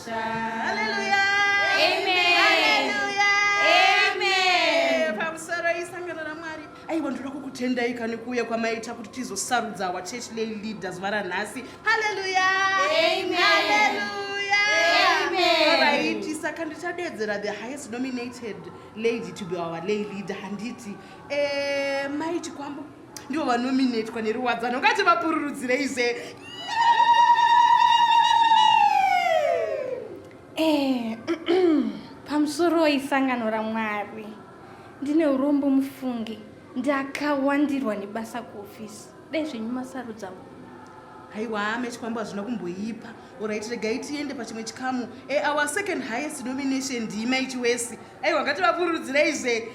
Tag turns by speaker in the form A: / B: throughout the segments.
A: Hallelujah. Amen. Hallelujah. Amen. Pamusoro isangano raMwari. Aiwa ndoda kukutendai kani kuuya kwamaita kuti tizosarudza our church lay leader zuva ranhasi. Hallelujah. Amen.
B: Hallelujah.
A: Amen. Alright,
B: saka
A: ndichadeedzera the highest nominated lady to be our lay leader handiti. Eh, mai Chikwambo. ndivo vanominetwa neruwadzano ngati vapururudzire ize
B: eh, pamusoro isangano ramwari ndine urombo mufunge ndakawandirwa nebasa kuofisi dai zvenyu masarudza haiwa
A: mechikwambo hazvina kumboipa orit regai tiende pachimwe chikamu eour eh, second highest nomination ndiimaichiwesi aiwa ngativapururudzirei zve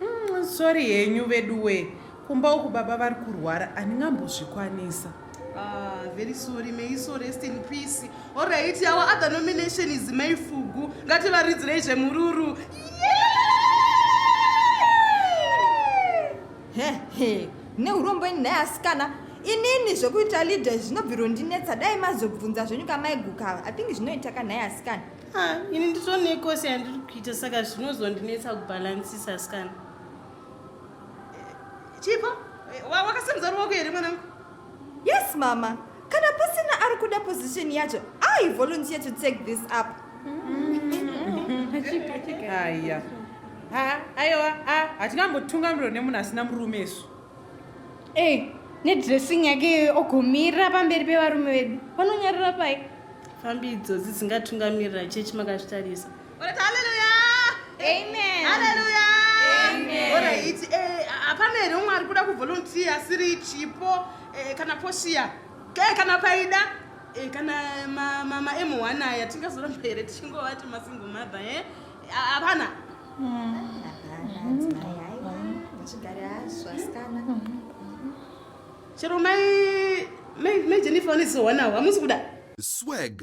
C: mm, sori henyu veduwe kumba uku baba vari kurwara handingambozvikwanisa Ah,
A: very sorry may you so rest in peace oright our other nomination is mai fugu ngativaridzirei zvemururu yeah!
D: hehe mune urombo ini nhai asikana inini zvekuita leader izvi zvinobvirondinetsa dai mazobvunza zvenyu kamaigukava i think zvinoita ka nhai asikana Ah, ini
E: nditonekosi yandiri kuita saka zvinozondinetsa kubhalansisa asikana
A: chipo wakasimudza ruoko here mwanangu Yes
D: mama, kana pasina ari kuda position yacho, I volunteer to take this up.
C: Haya. Ha, aiwa, ha, hatingambotungamirwa nemunhu asina murume isu. Hey,
B: nedressing yake ogumira pamberi pevarume vedu. Vanonyarira pai? Fambi idzodzi
E: dzingatungamirira chechi makazvitarisa.
A: hapana here umwe ari kuda kuvolunteer asiri chipo eh, kana poshiya eh, kana paida eh, kana mamaemuhwana aya tingazoramba here tichingovati masingle mother e hapana chero mai mai jennifer vanozowana hamusi kuda swag